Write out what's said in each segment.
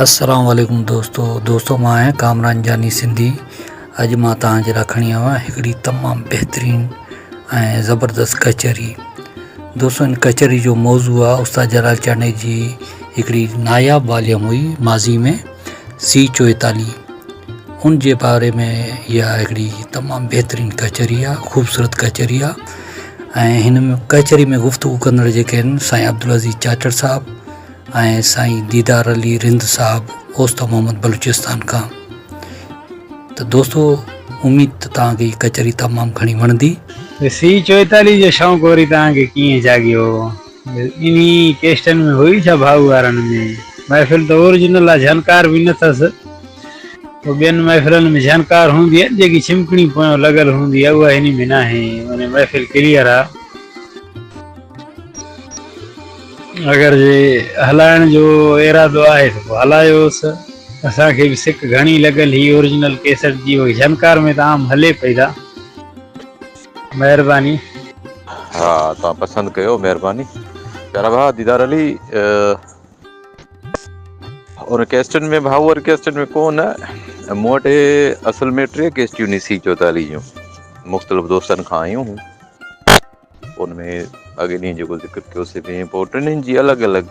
السلام عليڪم دوستو دوستو مان آهيان ڪامران جاني سنڌي اڄ مان توهان جي لاء کڻي آيو آهيان هڪڙي تمام بهترين ۽ زبردست ڪچهري دوستو ان ڪچهري جو موضوع آهي استاد جلال چانڊيي جي هڪڙي ناياب واليوم هئي ماضي ۾ سي چوئيتاليهه ان جي باري ۾ اها هڪڙي تمام بهترين ڪچهري آهي خوبصورت ڪچهري آهي ۽ هن ۾ ڪچهري ۾ گفتگو ڪندڙ جيڪي آهن سائين عبدالعزيز چاچڙ صاحب ۽ سائين ديدار علي رند صاحب اوست محمد بلوچستان کان ته دوستو اميد ته توهان کي هي ڪچهري تمام گهڻي وڻندي ته سي چوئيتاليهه جو شوق وري توهان کي ڪيئن جاڳيو انهي ڪيسٽن ۾ هئي ڇا ڀاء وارن ۾؟ محفل ته اورجنل آ جهنڪار به نه ٿس پوء ٻين محفلن ۾ جهنڪار هوندي آهي جيڪي ڇمڪڻي پويان لڳل هوندي آهي اها هني ۾ ناهي معني محفل ڪليئر آ. اگر جي هلائڻ جو ارادو آهي ته پوء هلايوس اسان کي به سڪ گهڻي لڳل هي اورجنل ڪيسٽ جي جهنڪار ۾ ته عام هلي پئي ٿا. مهرباني. ها توهان پسند ڪيو مهرباني پيارا ڀاء ديدار علي ان ڪيسٽن ۾ ڀاء وري ڪيسٽن ۾ ڪو نه مون وٽ هي اصل ۾ ٽي ڪيسٽيون نيسي چوتالي جون مختلف دوستن کان آيون هون ان ۾ اڳي ڏينهن جيڪو ذڪر ڪيو سي ۾ پوء ٽنهي جي الڳ الڳ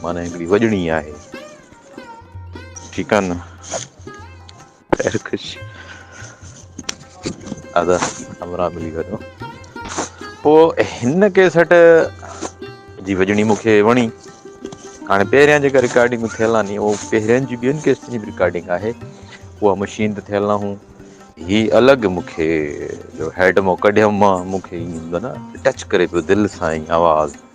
معنيٰ هڪڙي وڄڻي آهي ٺيڪ آ نه خيرڪش ادا ابرا ملي ويو پو هن ڪيسٽ جي وڄڻي مون کي وڻي هاڻي پهريان جيڪا رڪارڊنگ ٿيل آ ني اهو پهرين جي ٻين ڪيسٽن جي به رڪارڊنگ آهي اها مشين ته ٿيل ناهون هي الڳ مون کي جو هيڊ مون ڪڍيم مان مون کي ايندو نه ٽچ ڪري پيو دل سان ائين آواز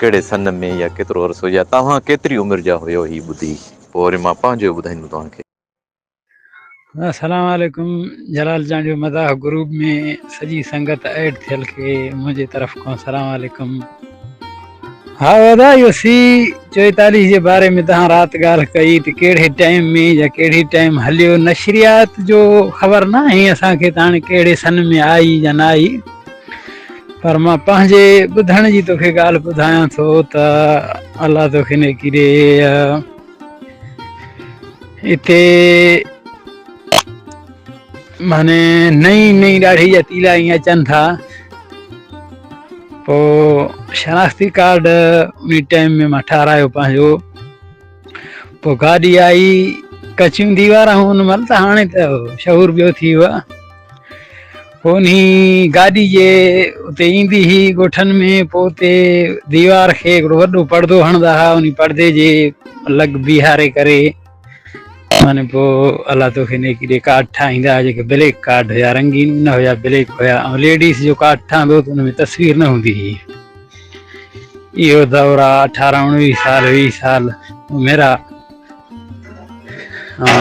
ڪهڙي سن ۾ يا ڪيترو عرصو يا توهان ڪيتري عمر جا هيو هي ٻڌي پوء وري مان پنهنجو ٻڌائيندم توهان کي. السلام عليڪم جلال جان جو مداح گروپ ۾ سڄي سنگت ايڊ ٿيل کي منهنجي طرف کان سلام عليڪم ها ادا اهو سي چوئيتاليهه جي باري ۾ تهان رات ڳالهه ڪئي ته ڪهڙي ٽائيم ۾ يا ڪهڙي ٽائيم هليو نشريات جو خبر ناهي اسان کي ته هاڻي ڪهڙي سن ۾ آئي يا نه آئي پر مان پنهنجي ٻڌڻ جي توکي ڳالهه ٻڌايان ٿو ته الله توکي نيڪي ڏي اتي معنی نئي نئي ڏاڙهي جا تيلا ائين اچن ٿا پو شناختي ڪارڊ انهي ٽائيم ۾ مان ٺارايو پنهنجو پو گاڏي آئي ڪچيون ديوارون هن مهل ته هاڻي ته شعور ٻيو ٿي ويو پوني گاڏي جي اتي ايندي هئي ڳوٺن ۾ پوء اتي ديوار کي هڪڙو وڏو پڙدو هڻدا ها انهي پڙدي جي لڳ بيهاري ڪري معنی پوء الله توکي نيڪي ڏي ڪارڊ ٺاهيندا ها جيڪي بليڪ ڪارڊ هيا رنگين نه هيا بليڪ هيا ۽ ليڊيز جو ڪارڊ ٺهندو ته ان ۾ تصوير نه هوندي هئي اهو دور آ اٺارهن اڻويهه سال ويهه سال عمر آ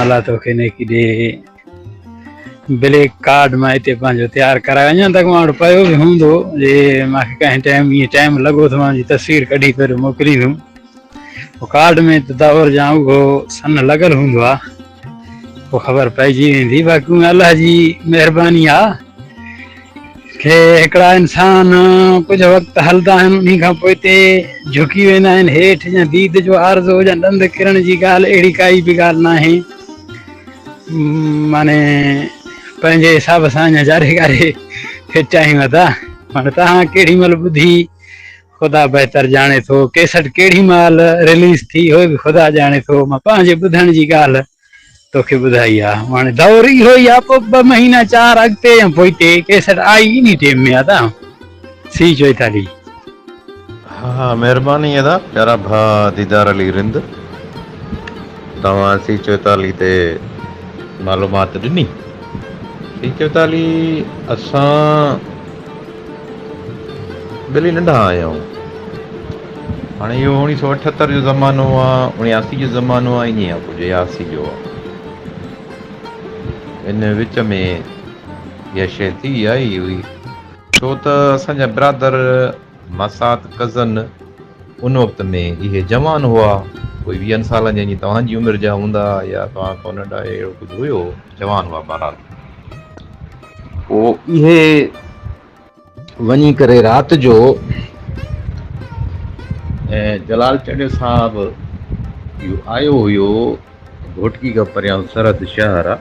الله توکي نيڪي ڏي بليڪ ڪارڊ مان هتي پنهنجو تيار ڪرايو اڃا تڪ مان وٽ پيو به هوندو جي مان کي ڪنهن ٽائيم ائين ٽائيم لڳو ته مان جي تصوير ڪڍي پهري موڪليندم پوء ڪارڊ ۾ ته دور جان اهو سن لڳل هوندو آهي پوء خبر پئجي ويندي باقي الله جي مهرباني آهي کي هڪڙا انسان ڪجهه وقت هلدا آهن انهي کان پوء تي جهڪي ويندا آهن هيٺ جا ديد جو عارضو جا ڏند ڪرڻ جي ڳالهه اهڙي ڪائي به ڳالهه ناهي معني پنهنجي حساب سان اڃا جاري ڪاري فٽ آهيون ادا معني تهان ڪهڙي مهل ٻڌي خدا بهتر ڄاڻي ٿو ڪيسٽ ڪهڙي مهل رليز ٿي اهو به خدا ڄاڻي ٿو مان پنهنجي ٻڌڻ جي ڳالهه توکي ٻڌائي آ هاڻي دور اهو ئي آ پوء ٻه مهينا چار اڳتي يا پوئتي ڪيسٽ آئي انهي ٽيم ۾ ادا سي چوئيتالي. ها ها مهرباني ادا پيارا ڀاء ديدار علي رند توهان سي چوئيتالي تي معلومات ڏني سي چوئيتالي اسان ٻلي ننڍا آهيائون. هاڻي اهو اوڻي سؤ اٺهتر جو زمانو آ، اڻياسي جو زمانو آ، انهيء کان پوء جياسي جو آ. ان وچ ۾ اها شيء ٿي آئي هئي، ڇو ته اسان جا برادر، ماسات، ڪزن، ان وقت ۾ اهي جوان هئا، ڪوئي ويهن سالن جا، جيئن توهان جي عمر جا هوندا، يا توهان کان ننڍا، اهڙو ڪجهه هيو، جوان هئا بهرحال. پوء اهي وڃي ڪري رات جو جلال چڏي صاحب آيو هيو گهوٽڪي کان پريان سرحد شهر آ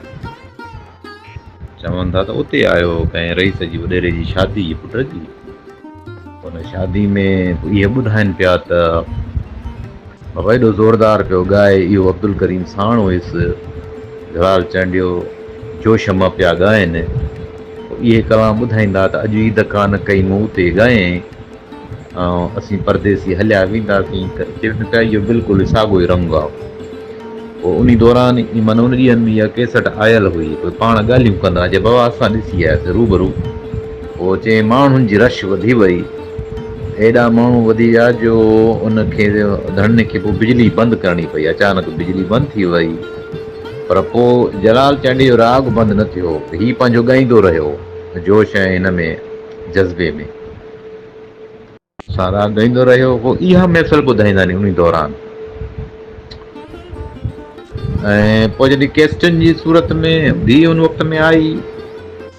چون ٿا ته اتي آيو هو ڪنهن رئيس جي وڏيري جي شادي جي پٽ جي ان شادي ۾ اهي ٻڌائن پيا ته بابا ايڏو زوردار پيو ڳائي اهو عبدالڪريم ساڻ هيس جلال چانڊيو جو شمع پيا ڳائن پوء اهي ڪلام ٻڌائيندا ته اڄ عيد ڪانه ڪئي مون تي ڳايئين ۽ اسين پرديسي هليا وينداسين ته چون پيا اهو بلڪل ساڳيو ئي رنگ آ. انهي دوران ئي من ان ڏينهن ۾ اها ڪيسٽ آيل هئي. پوء پاڻ ڳالهيون ڪندا جي بابا اسان ڏسي آياسين روبرو. پوء چيائين ماڻهن جي رش وڌي وئي. ايڏا ماڻهو وڌي ويا جو ان کي ڌڻين کي پوء بجلي بند ڪرڻي پئي. اچانڪ بجلي بند ٿي وئي. پر پوء جلال چانڊيي جو راڳ بند نه ٿيو. هي پنهنجو ڳائيندو رهيو جوش ۽ هن ۾ جذبي ۾. ساراهه ڳائيندو رهيو هو اها محفل ٻڌائيندا ني انهي دوران ۽ پوء جڏهن ڪيسٽن جي صورت ۾ به ان وقت ۾ آئي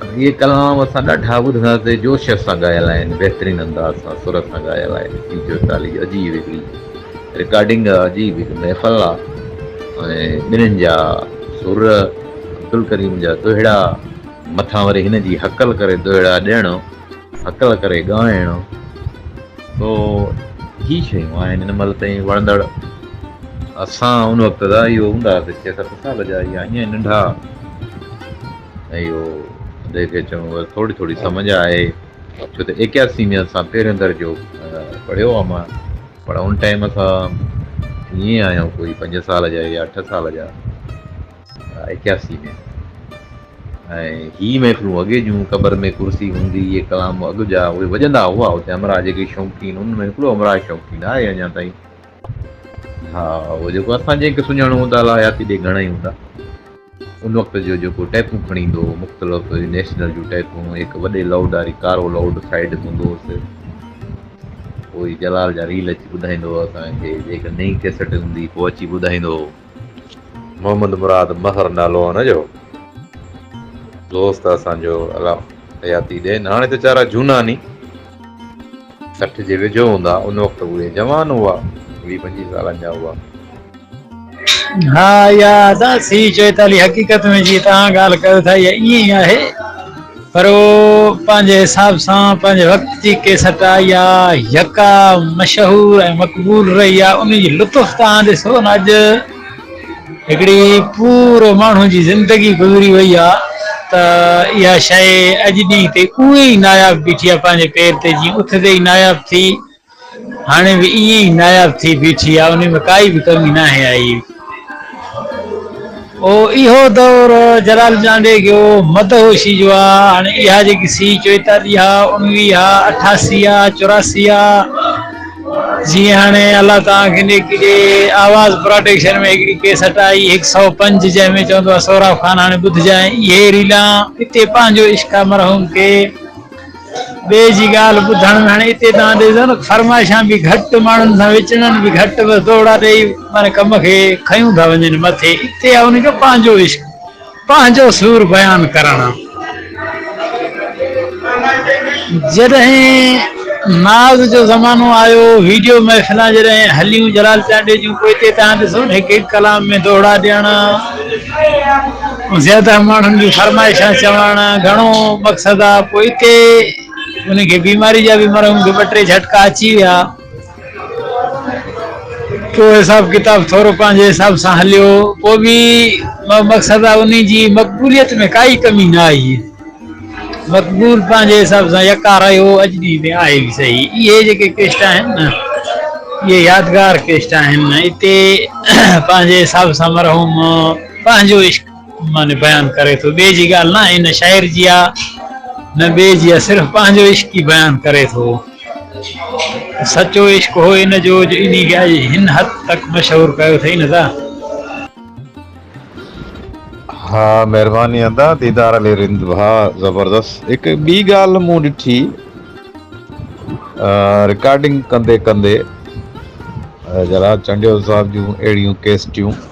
اهي ڪلام اسان ڏاڍا ٻڌاسي جوش سان ڳايل آهن بهترين انداز سان سر سان ڳايل آهن ٽي چوئيتاليهه عجيب هڪڙي رڪارڊنگ آ عجيب هڪ محفل آ ۽ ٻنهين جا سر عبدالڪريم جا دوهيڙا مٿان وري هن جي هڪل ڪري دوهيڙا ڏيڻ هڪل ڪري ڳائڻ سو هي شيون آهن هن مهل تائين وڻندڙ اسان ان وقت جا اهو هوندا هئاسي ڇهه ست سال جا يا ائين ننڍا ۽ اهو جنهن کي چئبو آهي ٿوري ٿوري سمجھ آهي ڇو ته ايڪياسي ۾ اسان پهريون درجو پڙهيو آهي مان پر ان ٽائيم اسان ائين آهيون ڪوئي پنج سال جا يا اٺ سال جا ايڪياسي ۾ ۽ هي محفلون اڳي جون قبر ۾ ڪرسي هوندي اهي ڪلام اڳ جا اهي وڄندا هئا اتي همراهه جيڪي شوقين ان ۾ هڪڙو همراهه شوقين آهي اڃا تائين ها اهو جيڪو اسان جنهن کي سڃاڻو هوندا الا حياتي ڏي گهڻا ئي هوندا ان وقت جو جيڪو ٽيپون کڻي ايندو هو مختلف نيشنل جون ٽيپون هڪ وڏي لائوڊ واري ڪارو لائوڊ سائيڊ تي هوندو هوس پوء جلال جا ريل اچي ٻڌائيندو هو اسان کي جيڪا نئين ڪيسٽ هوندي هئي پوء اچي ٻڌائيندو هو محمد مراد مهر نالو هو هن جو. دوست اسان جو الا حياتي ڏين هاڻي ته چارا جهونا ني. سٺ جي ويجهو هوندا ان وقت اهي جوان هئا ويهه پنجويهه سالن جا هئا. ها اها سهي چئي ٿا علي حقيقت ۾ جيئن توهان ڳالهه ڪيو ٿا اها ائين ئي آهي. پر هو پنهنجي حساب سان پنهنجي وقت جي ڪي سٽا يا يڪا مشهور ۽ مقبول رهي آ، انهي جي لطف توهان ڏسو نه اڄ هڪڙي پورو ماڻهو جي زندگي گذري وئي آ ته اها شيء اڄ ڏينهن تي اونئي ئي ناياب بيٺي آ پنهنجي پير تي جيئن اٿ تي ئي ناياب ٿي هاڻي به ائين ئي ناياب ٿي بيٺي آ انهي ۾ ڪائي به ڪمي ناهي آئي. او اهو دور جلال جانڊي گيو مدهوشي جو آ هاڻي اها جيڪي سي چوئيتاليهه آ اڻويهه آ اٺاسي آ چوراسي آ جي هاڻي الله توهان کي نيڪي ڏي آواز پراڊيڪشن ۾ هڪڙي ڪيسٽ آئي هڪ سئو پنج جنهن ۾ چوندو آ سهراب خان هاڻي ٻڌجانء اهي ريلان اتي پنهنجو عشق آ مرحوم کي ٻئي جي ڳالهه ٻڌڻ ۾ هاڻي اتي توهان ڏسو نه فرمائشان به گهٽ، ماڻهن سان وچڙن به گهٽ، بس دوڙا ڏيئي معنيٰ ڪم کي کنيون ٿا وڃن مٿي، اتي آهي ان جو پنهنجو عشق، پنهنجو سور بيان ڪرڻ. جڏهن ناز جو زمانو آيو، ويڊيو محفلان جڏهن هليون جلال چانڊيو جون، پوء اتي توهان ڏسو نه هڪ هڪ ڪلام ۾ دوڙا ڏيڻ، زياده ماڻهن جون فرمائشان چوڻ گهڻو مقصد آ، پوء اتي انهن کي بيماري جا به مرحوم کي ٻه ٽي جهٽڪا اچي ويا، پوء حساب ڪتاب ٿورو پنهنجي حساب سان هليو، پوء به مقصد آ انهن جي مقبوليت ۾ ڪائي ڪمي نه آئي، مقبول پنهنجي حساب سان يڪا رهيو، اڄ ڏينهن تائين آهي به صحيح، اهي جيڪي ڪيسٽا آهن نه اهي يادگار ڪيسٽا آهن، اتي پنهنجي حساب سان مرحوم پنهنجو عشق معني بيان ڪري ٿو ٻئي جي ڳالهه نه هن شاعر جي آ نه ٻئي جي آ صرف پنهنجو عشق ئي بيان ڪري ٿو سچو عشق هو ان جو جو انهي کي اڄ هن حد تڪ مشهور ڪيو اٿئي نه ته ها مهرباني ادا ديدار علي رند ڀاء زبردست هڪ ٻي ڳالهه مون ڏٺي رڪارڊنگ ڪندي ڪندي جلال چنڊيو صاحب جون اهڙيون ڪيسٽيون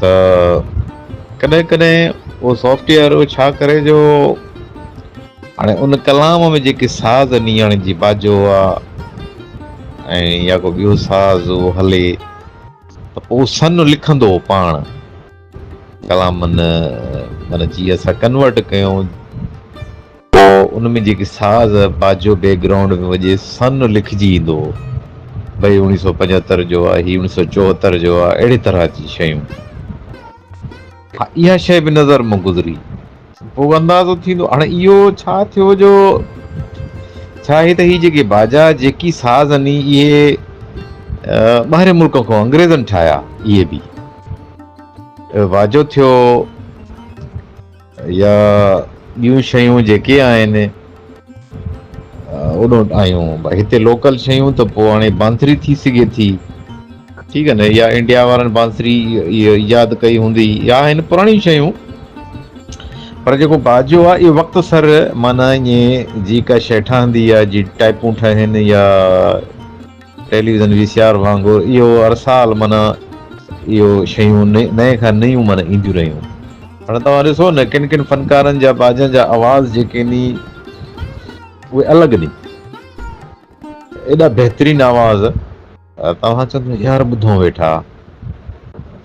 ته ڪڏهن ڪڏهن اهو سافٽ ويئر ڇا ڪري جو هاڻي ان ڪلام ۾ جيڪي ساز نيڻ جي باجو هئا ۽ يا ڪو ٻيو ساز هو هلي ته پوء سن لکندو هو پاڻ ڪلامن مانا جي اسان ڪنورٽ ڪيون پوء ان ۾ جيڪي ساز باجو بيڪ گرائونڊ ۾ وڄي سن لکجي ايندو هو ڀئي اوڻيهه سؤ پنجهتر جو آ هي اوڻيهه سؤ چوهتر جو آ اهڙي طرح جي شيون ها اها شيء به نظر مان گذري پوء اندازو ٿيندو هاڻي اهو ڇا ٿيو جو ڇا آهي ته هي جيڪي باجا جيڪي ساز اني اهي ٻاهرين ملڪن کان انگريزن ٺاهيا اهي به واجو ٿيو. يا ٻيون شيون جيڪي آهن اوڏانهن آيون بھا هتي لوڪل شيون ته پوء هاڻي بانسري ٿي سگهي ٿي ٺيڪ نه يا انڊيا وارن بانسري ايجاد ڪئي هوندي يا هن پراڻي شيون پر جيڪو باجو آ اهو وقت سر معنی ائين جي ڪا شيء ٺهندي آ جي ٽائپون ٺهن يا ٽيليويزن وي سي آر وانگر اهو هر سال معنيٰ اهو شيون نئين کان نيون معنيٰ اينديون رهيون. هاڻي توهان ڏسو نه ڪن ڪن فنڪارن جا باجن جا آواز جيڪي ني اهي الڳ ني ايڏا بهترين آواز توهان چوندو يار ٻڌون ويٺا.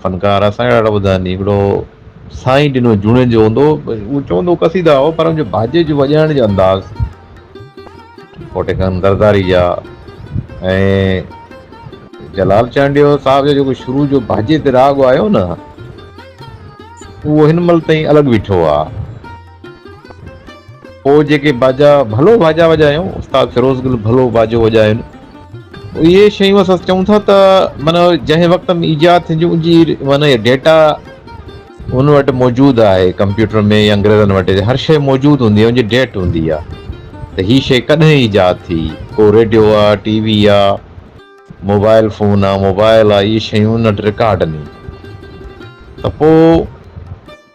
فنڪار اسان کي ڏاڍا ٻڌا آهن هڪڙو سائين ڏنو جوڻيجو جو هوندو هو چوندو هو قصيدا هو پر هنجو باجي جو وڄائڻ جو انداز پوٽي کان زرداري جا ۽ جلال چانڊيو صاحب جو جيڪو شروع جو باجي تي راڳ آيو نه اهو هن مهل تائين الڳ بيٺو آ پوء جيڪي باجا ڀلو باجا وڄايون، استاد فيروز گل ڀلو باجو وڄايون، اهي شيون اسان چئون ٿا ته معنيٰ جنهن وقت ۾ ايجاد ٿينديون ان جي معنيٰ اهي ڊيٽا هن وٽ موجود آهي ڪمپيوٽر ۾ يا انگريزن وٽ هر شيء موجود هوندي آهي ان جي ڊيٽ هوندي آهي ته هي شيء ڪڏهن ايجاد ٿي ڪو ريڊيو آ ٽي وي آ موبائل فون آ موبائل آ اهي شيون ان وٽ رڪارڊ ني ته پوء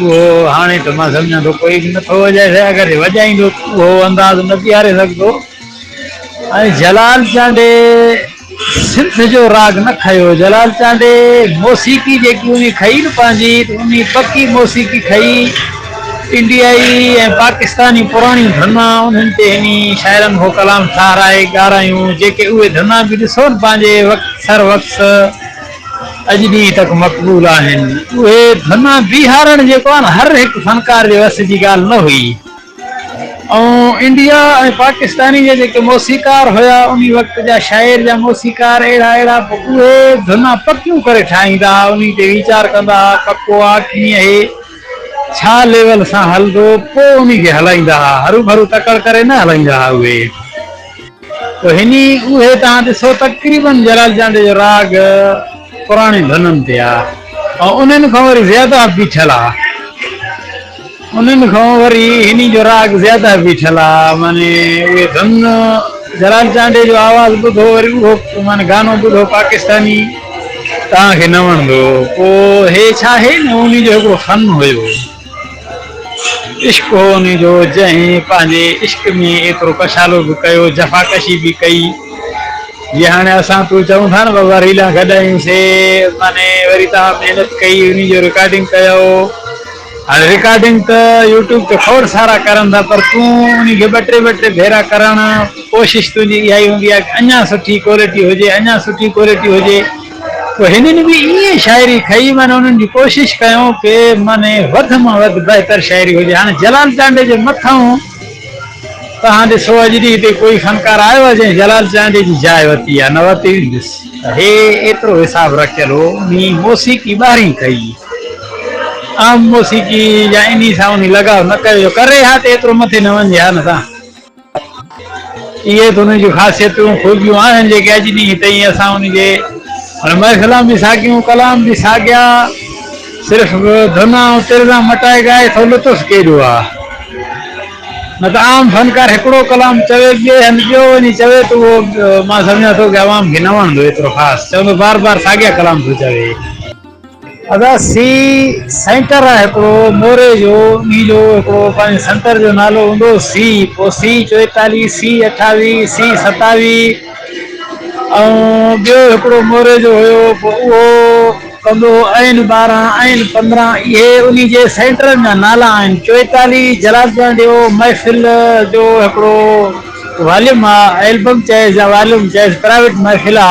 اهو هاڻي ته مان سمجهان ٿو ڪوئي به نٿو وڄائي سگهي، اگر وڄائيندو ته اهو انداز نه بيهاري سگهندو ۽ جلال چانڊي سنڌ جو راڳ نه کنيو، جلال چانڊي موسيقي جيڪي انهي کنئي نه پنهنجي ته انهي پڪي موسيقي کنئي، انڊيائي ۽ پاڪستاني پراڻيون ڌنا انهن تي هني، شاعرن اهو ڪلام ٺهرائي ڳارايون جيڪي اهي ڌنا به ڏسو نه پنهنجي وقت سر وقص. اڄ ڏينهن تڪ مقبول آهن. اهي ڌنا بيهارڻ جيڪو آهي نه هر هڪ فنڪار جي وس جي ڳالهه نه هئي ۽ انڊيا ۽ پاڪستاني جا جيڪي موسيقار هيا انهي وقت جا شاعر جا موسيقار اهڙا اهڙا اهي ڌنا پڪيون ڪري ٺاهيندا ها انهي تي ويچار ڪندا ها پڪو آ ڪيئن هي ڇا ليول سان هلندو پوء انهي کي هلائيندا ها هروڀرو تڪڙ ڪري نه هلائيندا ها اهي پوء هني اهي توهان ڏسو تقريبن جلال چانڊيو جو راڳ پراڻين ڌنن تي آ ۽ انهن کان وري زياده بيٺل آ انهن کان وري هني جو راڳ زياده بيٺل آ معني اهي ڌن جلال چانڊيو جو آواز ٻڌو وري اهو معني گانو ٻڌو پاڪستاني توهان کي نه وڻندو پوء هي ڇا هي نه انهي جو هڪڙو فن هيو عشق هو ان جو جنهن پنهنجي عشق ۾ ايترو ڪشالو به ڪيو، جفاڪشي به ڪئي، جي هاڻي اسان تون چئون ٿا نه بابا ريلان گڏايون سي معني وري توهان محنت ڪئي انهي جو رڪارڊنگ ڪيو، هاڻي رڪارڊنگ ته يوٽيوب تي کوڙ سارا ڪرن ٿا پر تون انهي کي ٻه ٽي ٻه ٽي ڀيرا ڪرڻ ڪوشش تنهنجي اها ئي هوندي آهي ته اڃان سٺي ڪوالٽي هجي اڃان سٺي ڪوالٽي هجي. پوء هنن به ائين شاعري کئي معنيٰ انهن جي ڪوشش ڪيون ڪي معني وڌ مان وڌ بهتر شاعري هجي هاڻي جلال چانڊئي جي مٿئون توهان ڏسو اڄ ڏينهن تائين ڪوئي فنڪار آيو آهي جنهن جلال چانڊئي جي جاء وتي يا نه وتي هجس ته هي ايترو حساب رکيل هو انهي موسيقي ٻاهرين ڪئي عام موسيقي يا انهي سان انهي لڳاء نه ڪيو جو ڪري ها ته ايترو مٿي نه وڃي ها نه تان اهي ته انهن جون خاصيتون، خوبيون آهن، جيڪي اڄ ڏينهن تائين اسان ان جي علماء ڪلام جي ساڳيون ڪلام جي ساڳيا صرف ڌن ۽ ترزان مٽائي ڳائي ٿو لطف ڪيڏو آ. نه ته عام فنڪار هڪڙو ڪلام چوي ٻئي هنڌ ٻيو وڃي چوي ته اهو مان سمجهان ٿو ڪه عوام کي نه وڻندو ايترو خاص چوندو بار بار ساڳيا ڪلام ٿو چوي. ادا سي سينٽر آ هڪڙو موري جو انهي جو هڪڙو پنهنجي سينٽر جو نالو هوندو سي پو سي چوئيتاليهه سي اٺاويهه سي ستاويهه ۽ ٻيو هڪڙو موري جو هيو پو اهو ڪندو هو اين ٻارهن اين پندرهن اهي انهي جي سينٽرن جا نالا آهن چوئيتاليهه جلال پنهنجو محفل جو هڪڙو واليوم آ البم چئيس يا واليوم چئيس پرائيوٽ محفل آ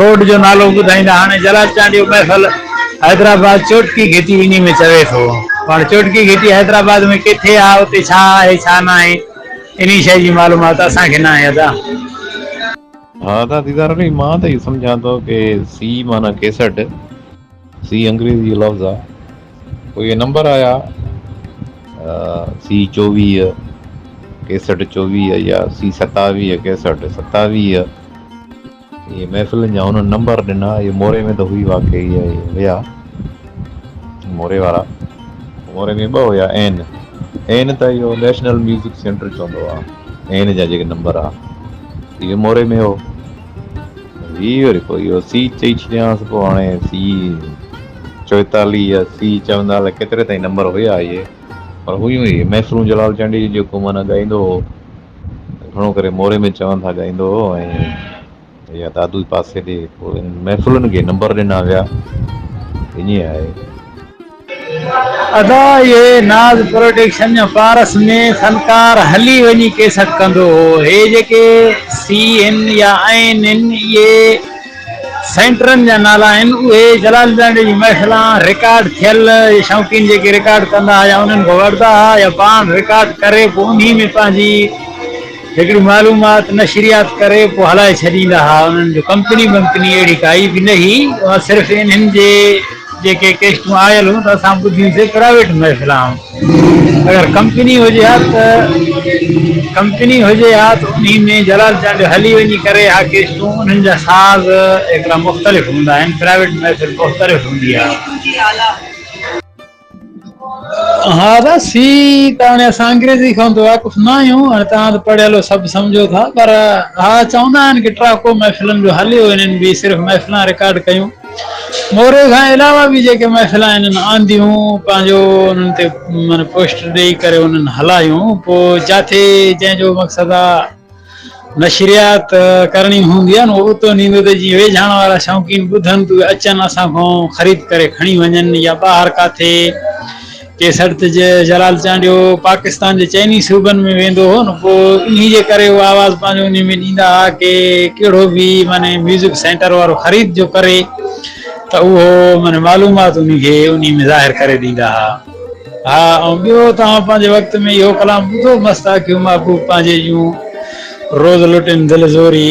روڊ جو نالو به ٻڌائيندا. هاڻي جلال چانڊيو محفل حيدرآباد چوٽڪي گهٽي وڃي ۾ چوي ٿو. هاڻي چوٽڪي گهٽي حيدرآباد ۾ ڪٿي آ اتي ڇا آهي ڇا ناهي انهي شئي جي معلومات اسان کي ناهي ادا. ها ادا ديدار علي مان ته اهو سمجهان ٿو ڪي سي معنيٰ ڪيسٽ. سي انگريزي جو لفظ آ پوء اهي نمبر آيا سي چوويهه ڪيسٽ چوويهه يا سي ستاويهه ڪيسٽ ستاويهه اهي محفلن جا هنن نمبر ڏنا اهي موري ۾ ته هئي واقعي هيا موري وارا موري ۾ ٻه هيا اين اين ته اهو نيشنل ميوزڪ سينٽر چوندو آ اين جا جيڪي نمبر آ اهي موري ۾ هو ويهه وري پوء اهو سي چئي ڇڏيانس پوء هاڻي سي چوئيتاليهه يا سي چوندا الائي ڪيتري تائين نمبر هيا اهي پر هيون ئي محفلون جلال چانڊيي جون جيڪو معنيٰ ڳائيندو هو گهڻو ڪري موري ۾ چون ٿا ڳائيندو هو ۽ يا دادو پاسي ڏي پوء محفلن کي نمبر ڏنا ويا ائين آهي. ادا اهي ناز پروڊڪشن يا پارس ۾ فنڪار هلي وڃي ڪيسٽ ڪندو هو هي جيڪي سي ان يا آئين ان اهي سينٽرن جا نالا آهن اهي جلال جانڊي جي محفلان رڪارڊ ٿيل شوقين جيڪي رڪارڊ ڪندا ها يا انهن کان وردا ها يا پاڻ رڪارڊ ڪري پو انهي ۾ پنهنجي هڪڙي معلومات نشريات ڪري پوء هلائي ڇڏيندا ها انهن جو ڪمپني بمپني اهڙي ڪائي به نه هي اها صرف انهن جي جيڪي ڪيسٽون آيل هيون ته اسان ٻڌيون سي پرائيويٽ محفلان اگر ڪمپني هجي ها ته ڪمپني هجي ها ته انهي ۾ جلال چانڊيو هلي وڃي ڪري ها ڪيسٽون انهن جا ساز هڪڙا مختلف هوندا آهن پرائيويٽ محفل مختلف هوندي ها. ها بس هي ته هاڻي اسان انگريزي کان به واقف نه آهيون هاڻي توهان ته پڙهيل سڀ سمجهو ٿا پر ها چوندا آهن ڪي ٽراڪو محفلن جو هليو انهن به صرف محفلان رڪارڊ ڪيون موري کان علاوه به جيڪي محفل انهن آنديون پنهنجو انهن تي من پوسٽ ڏيئي ڪري انهن هلايون پوء جاٿي جنهن جو مقصد آ نشريات ڪرڻي هوندي آهي نو اتو نيندو ته جيئن ويجهاڻ وارا شوقين ٻڌن ته اهي اچن اسان کان خريد ڪري کڻي وڃن يا ٻاهر ڪاٿي ڪي سڙت جي جلال چانڊيو پاڪستان جي چئني صوبن ۾ ويندو هو نو پو انهي جي ڪري اهو آواز پنهنجو انهي ۾ ڏيندا ها ڪي ڪهڙو به معني ميوزڪ سينٽر وارو خريد جو ڪري ته اهو معني معلومات انهي کي انهي ۾ ظاهر ڪري ڏيندا ها. ها ۽ ٻيو توهان پنهنجي وقت ۾ اهو ڪلام ٻڌو مست آکيون محبوب پنهنجي جون روز لٽين دل زوري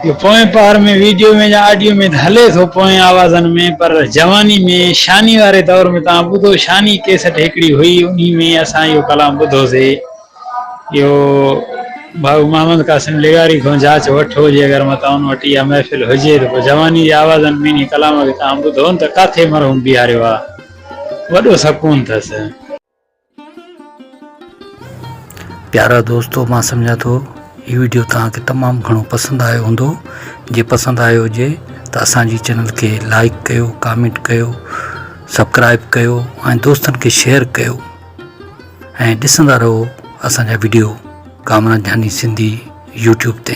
اهو پوئين پهر ۾ ويڊيو ۾ يا آڊيو ۾ هلي ٿو پوئين آوازن ۾ پر جواني ۾ شاني واري دور ۾ توهان ٻڌو شاني ڪيسٽ هڪڙي هئي انهي ۾ اسان اهو ڪلام ٻڌوسي اهو ڀائو محمد قاسم لغاري کان جاچ وٺو جي اگر متان ان وٽ اها محفل هجي ته پوء جواني جي آوازن ۾ انهي ڪلام کي توهان ٻڌو نه ته ڪاٿي مرحوم بيهاريو آ وڏو سڪون ٿس. پيارا دوستو مان سمجهان ٿو هي وڊيو توهان کي تمام گهڻو پسند آيو هوندو جي پسند آيو هجي ته اسان جي چينل کي لائيڪ ڪيو ڪامينٽ ڪيو سبڪرائيب ڪيو ۽ دوستن کي شيئر ڪيو. ۽ ڏسندا رهو اسان جا وڊيو ڪامران جاني سنڌي يوٽيوب تي.